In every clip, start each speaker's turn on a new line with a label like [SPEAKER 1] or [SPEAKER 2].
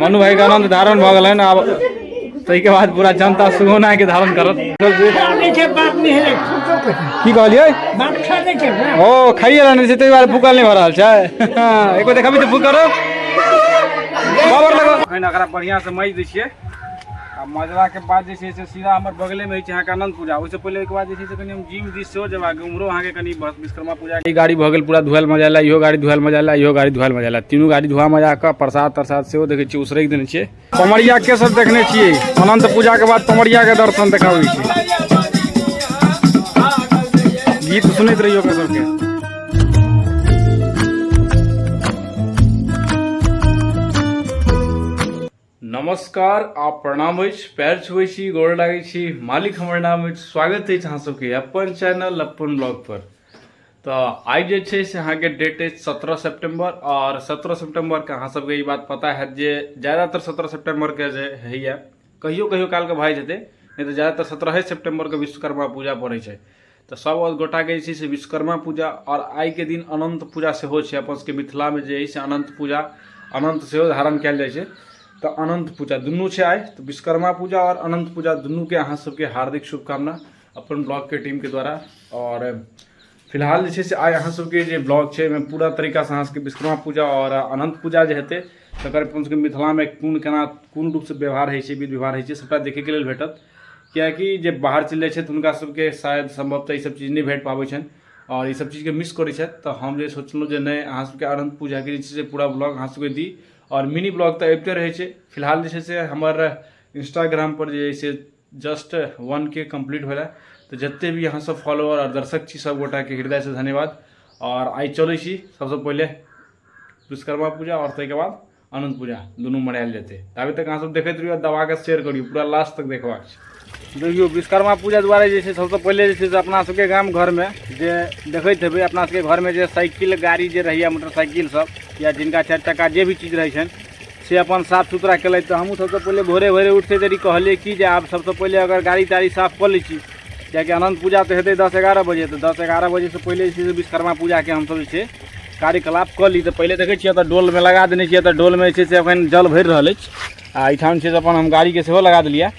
[SPEAKER 1] मनु भाई का आनंद धारण भऽ गेलनि आब ताहिके बाद पूरा जनता सुगौना के धारण करत की कहलियै ओ खाइए रहने छै ताहि दुआरे भूखल नहि भऽ रहल छै एको देखबी तऽ भूख करब बाबर लगो एखन एकरा बढ़िआँसँ माजि दै छियै आ मजराके बाद जे छै से सीधा हमर बगलेमे होइ छै अहाँके अनन्त पूजा ओहिसँ पहिले ओहिके बाद जे छै से कनि हम जिम दिस सेहो जेबाक अइ, उम्हरो अहाँके कनि भ- विश्वकर्मा पूजा ई गाड़ी भऽ गेल पूरा धुआएल मजाएला इहो गाड़ी धुआएल मजाएला इहो गाड़ी धुआएल मजाएला तीनू गाड़ी धुआ मजा कऽ प्रसाद तरसाद सेहो देखै छियै उसरैक देने छियै पमरिया के सब देखने छियै अनन्त पूजाके बाद पमरियाके दर्शन देखाबै छै गीत सुनैत रहियो ओकर सबके नमस्कार आ प्रणाम अछि पैर छुबै छी गोर लागै छी मालिक हमर नाम अछि स्वागत अछि अहाँ सबके अपन चैनल अपन ब्लॉग पर तऽ आइ जे छै से अहाँके डेट अछि सत्रह सेप्टेम्बर आओर सत्रह सेप्टेम्बरके अहाँ सबके ई बात पता हैत जे ज्यादातर सत्रह सेप्टेम्बरके जे होइए कहियो कहियो कालके भए जेतै नहि तऽ ज्यादातर सत्रहे सेप्टेम्बरके विश्वकर्मा पूजा पड़ै छै तऽ सब गोटाके जे छै से विश्वकर्मा पूजा आओर आइके दिन अनन्त पूजा सेहो छै अपन सबके मिथिलामे जे अइ से अनन्त पूजा अनन्त सेहो धारण कयल जाइ छै तऽ अनन्त पूजा दुनू छै आइ तऽ विश्वकर्मा पूजा आओर अनन्त पूजा दुनूके अहाँ सबके हार्दिक शुभकामना अपन ब्लॉगके टीमके द्वारा आओर फिलहाल जे छै से आइ अहाँ सबके जे ब्लॉग छै ओहिमे पूरा तरीकासँ अहाँ सबके विश्वकर्मा पूजा आओर अनन्त पूजा जे हेतै तकर अपन सबके मिथिलामे कोन केना कोन रूपसँ व्यवहार होइ छै विध व्यवहार होइ छै सबटा देखैके लेल भेटत कियाकि जे बाहर चलि जाइ छथि हुनका सबके शायद सम्भवतः ई सब चीज नहि भेट पाबै छनि आओर ई सब चीजके मिस करै छथि तऽ हम जे सोचलहुँ जे नहि अहाँ सबके अनन्त पूजाके जे छै से पूरा ब्लॉग अहाँ सबके दी आओर मिनी ब्लॉग तऽ अबिते रहै छै फिलहाल जे छै से हमर इंस्टाग्रामपर जे छै जस्ट वन के कम्प्लीट भेलै तऽ जते भी अहाँ सब फॉलोअर आओर दर्शक छी सबगोटाके हृदयसँ धन्यवाद आओर आइ चलै छी सबसँ पहिले विश्वकर्मा पूजा आओर ताहिके बाद अनंत पूजा दुनू मनायल जेतै ताबे तक अहाँ सब देखैत रहियो दबा के शेयर करियो पूरा लास्ट तक देखबाक छै देखियो विश्वकर्मा पूजा द्वारा जे छै सबसँ पहिले जे छै से अपना सबके गाम घरमे जे देखैत हेबै अपना सबके घरमे जे साइकिल गाड़ी जे रहैया मोटरसाइकिल सब या जिनका चारि चक्का जे भी चीज रहै छनि से अपन साफ सुथरा केलथि तऽ हमहूँ सबसँ पहिले भोरे भोरे उठते देरी कहलियै कि जे आब सबसँ पहिले अगर गाड़ी ताड़ी साफ कऽ लै छी किएकि अनन्त पूजा तऽ हेतै दस एगारह बजे तऽ दस एगारह बजेसँ पहिले जे छै से विश्वकर्मा पूजाके हमसब जे छै कार्यकलाप कऽ ली तऽ पहिले देखै छियै एतऽ डोलमे लगा देने छियै एतऽ डोलमे जे छै से एखन जल भरि रहल अछि आ एहिठाम छै से अपन हम गाड़ीके सेहो लगा देलियै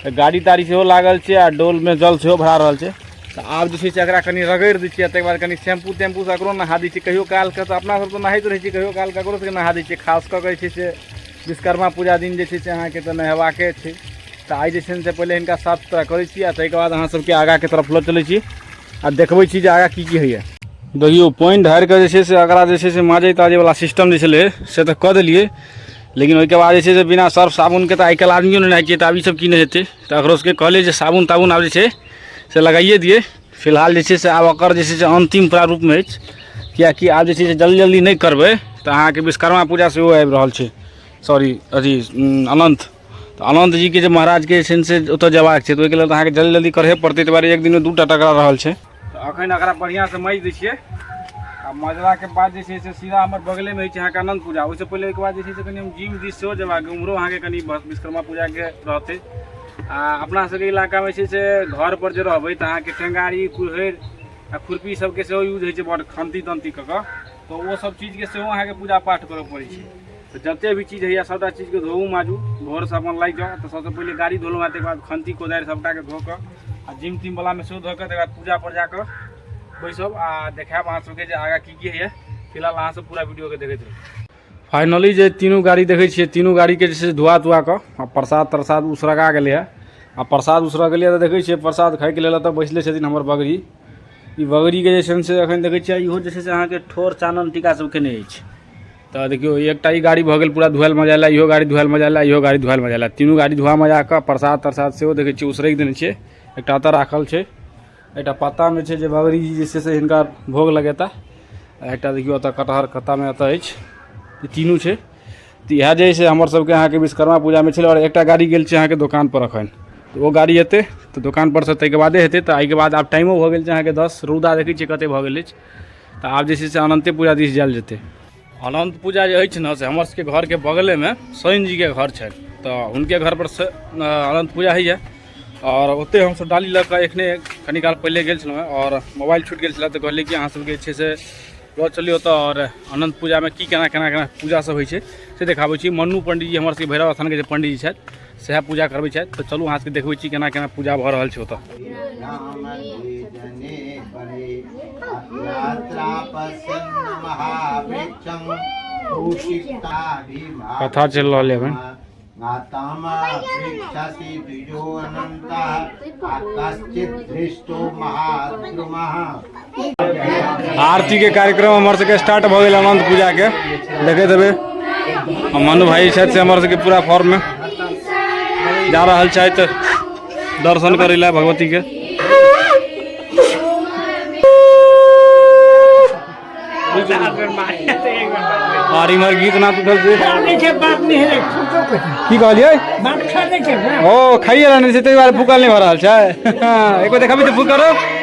[SPEAKER 1] तऽ गाड़ी ताड़ी सेहो लागल छै आ डोलमे जल सेहो भरा रहल छै तऽ आब जे छै से एकरा कनि रगड़ि दै छियै ताहिके बाद कनि शैम्पू तैम्पूसँ एकरो नहा दै छियै कहियो कालके तऽ अपना सब तऽ नहाइत रहै छियै कहियो काल ककरो सबके नहा दै छियै खास कऽ कऽ जे छै से विश्वकर्मा पूजा दिन जे छै से अहाँके तऽ नहेबाके छै तऽ आइ जे छै से पहिले हिनका साफ सुथरा करै छी आ ताहिके बाद अहाँ सबके आगाँके तरफ लऽ चलै छी आ देखबै छी जे आगाँ की की होइए देखियौ पानि ढारि कऽ जे छै से एकरा जे छै से माजै ताजैवला सिस्टम जे छलै से तऽ कऽ देलियै लेकिन ओहिके बाद जे छै से बिना सर्फ साबुनके तऽ आइ काल्हि आदमियो नहि नहाइ छै तऽ आब ई सब की नहि हेतै तऽ एकरो सबके कहलियै जे साबुन ताबुन आब जे छै से लगाइए दियै फिलहाल जे छै से आब ओकर जे छै से अन्तिम प्रारूपमे अछि किएकि आब जे छै से जल्दी जल्दी नहि करबै तऽ अहाँके विश्वकर्मा पूजा सेहो आबि रहल छै सॉरी अथी अनन्त तऽ अनन्त जीके जे महाराजके जे छनि से ओतऽ जयबाक छै तऽ ओहिके लेल तऽ अहाँके जल्दी जल्दी करहे पड़तै ताहि दुआरे एक दिनमे दू टा टकरा रहल छै तऽ अखन एकरा बढ़िआँसँ माजि दै छियै आ मजलाके बाद जे छै से सीधा हमर बगलेमे होइ छै अहाँके अनन्त पूजा ओहिसँ पहिले ओहिके बाद जे छै से कनि हम जिम दिस सेहो जयबाक उम्हरो अहाँके कनि विश्वकर्मा पूजाके रहतै आ अपना सबके इलाकामे छै से घर पर जे रहबै तऽ अहाँके टेंगारी कुल्हरि आ खुरपी सबके सेहो यूज होइ छै बड खन्ती तन्ती कऽ कऽ तऽ ओ सब चीजके सेहो अहाँके पूजा पाठ करऽ पड़ै छै तऽ जते भी चीज होइए सबटा चीजके धोऊ माजू भोरसँ अपन लागि जाउ तऽ सबसँ पहिले गाड़ी धोलहुँ हेँ तकर बाद खन्ती कोदारि सबटाके धो कऽ आ जिम तिम बलामे सेहो धो कऽ तकर बाद पूजा पर जाकऽ बैसब आ देखायब अहाँ सबके जे आगाँ की की होइए फिलहाल अहाँ सब पूरा वीडियोके देखैत रहू फाइनली जे तीनू गाड़ी देखै छियै तीनू गाड़ीके जे छै से धुआ तुआ कऽ आ प्रसाद तरसाद उसरगा गेलै हँ आ प्रसाद उसरग गेलै हँ तऽ देखै छियै प्रसाद खायके लेल एतऽ बैसले छथिन हमर बगड़ी ई बगड़ीके जे छनि से एखन देखै छियै इहो जे छै से अहाँके ठोर चानन टीका सब केने अछि तऽ देखियौ एकटा ई गाड़ी भऽ गेल पूरा धुआएल मजाएल इहो गाड़ी धुआएल मजाएल इहो गाड़ी धुआएल मजाएल तीनू गाड़ी धुआ मजा कऽ प्रसाद तरसाद सेहो देखै छियै उसरगि देने छियै एकटा एतऽ राखल छै एकटा पत्तामे छै जे बाबरीजी जे छै से हिनका भोग लगेता आ एकटा देखियौ एतऽ कटहर कत्तामे एतऽ अछि ई तीनू छै तऽ इएह जे है से हमर सबके अहाँके विश्वकर्मा पूजामे छलै आओर एकटा गाड़ी गेल छै अहाँके दोकान पर अखन तऽ ओ गाड़ी एतै तऽ दोकान पर से ताहिके बादे हेतै तऽ एहिके बाद आब टाइमो भऽ गेल छै अहाँके दस रौदा देखै छियै कते भऽ गेल अछि तऽ आब जे छै से अनन्ते पूजा दिस जायल जेतै अनन्त पूजा जे अछि ने से हमर सबके घरके बगलेमे शनि जीके घर छनि तऽ हुनके घरपर अनन्त पूजा होइए आओर ओतहि हमसब डाली लऽ कऽ एखने कनी काल पहिले गेल छलहुँ आओर मोबाइल छूटि गेल छलै तऽ कहलिए कि अहाँ सबके जे छै से लऽ चलिऔ तऽ आओर अनन्त पूजामे कि कोना कोना कोना पूजासब होइ छै से देखाबै छी मन्नू पण्डीजी हमर सबके भैरव अस्थानके जे पण्डीजी छथि सएह पूजा करबै छथि तऽ चलू अहाँ सबके देखबै छी केना केना पूजा भऽ रहल छै ओतऽ कथा चलि रहल है एखन कश्चित महाद्रुमः आरती के कार्यक्रम हमर सबके स्टार्ट भऽ गेल अनंत पूजा के देखैत हेबै आ मनु भाई छथि से हमर सबके पूरा फॉर्म में जा रहल छथि दर्शन करै लए भगवती के और इमहर गीत नाच उठल छै देखिए बात नहीं है फूको कुछ नहीं। की कहलियै बात खा देखिए ओ खाइए रहने छै ताहि दुआरे फूकल नहि भऽ रहल छै एक बेर देखाबी तऽ फूक करो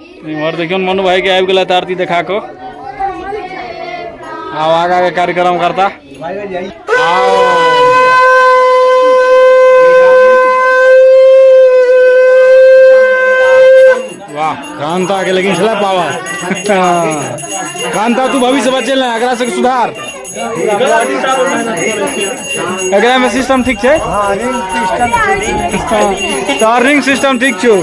[SPEAKER 1] इम्हर देखियो मनु भाई के आबि गेल आरती देखा कऽ आब आगा के कार्यक्रम करता वाह कांता के लेकिन छला पावर कांता तू भविष्य बचेला एकरा से सुधार एकरा में सिस्टम ठीक
[SPEAKER 2] छै हाँ रिंग सिस्टम
[SPEAKER 1] ठीक तार रिंग सिस्टम ठीक छौ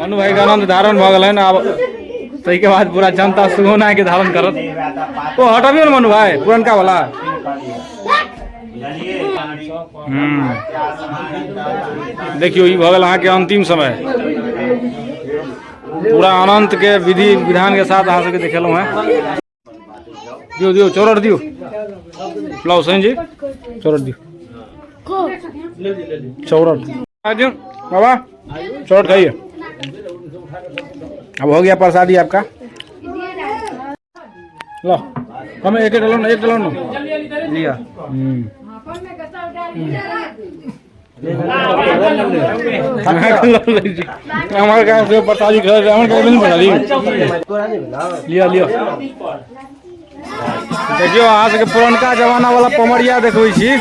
[SPEAKER 1] मनु भाई का आनंद धारण भऽ गेलनि आब ताहि के बाद पूरा जनता सुगौना के धारण करत ओ हटबियो ने मनु भाई पुरनका वाला देखियो ई भऽ गेल अहाँके अंतिम समय पूरा अनंत के विधि विधान के साथ अहाँ सबके देखेलहुँ हैं दियो दियो चौरट दियो लाओ सैन जी चौरट दियो चौरट दियो बाबा चौरट खाइए अब हो गया प्रसादी आपका ल कमे एक एक लौ न एक लौ न लिया हम्म हमारे गांव से बताली घर से हमारे गांव नहीं बताली लिया लिया देखियो अहाँ सबके पुरनका जमाना वाला पमरिया देखबै छी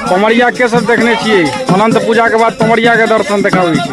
[SPEAKER 1] पमरिया के सब देखने छियै अनंत पूजा के बाद पमरिया के दर्शन देखाबै छी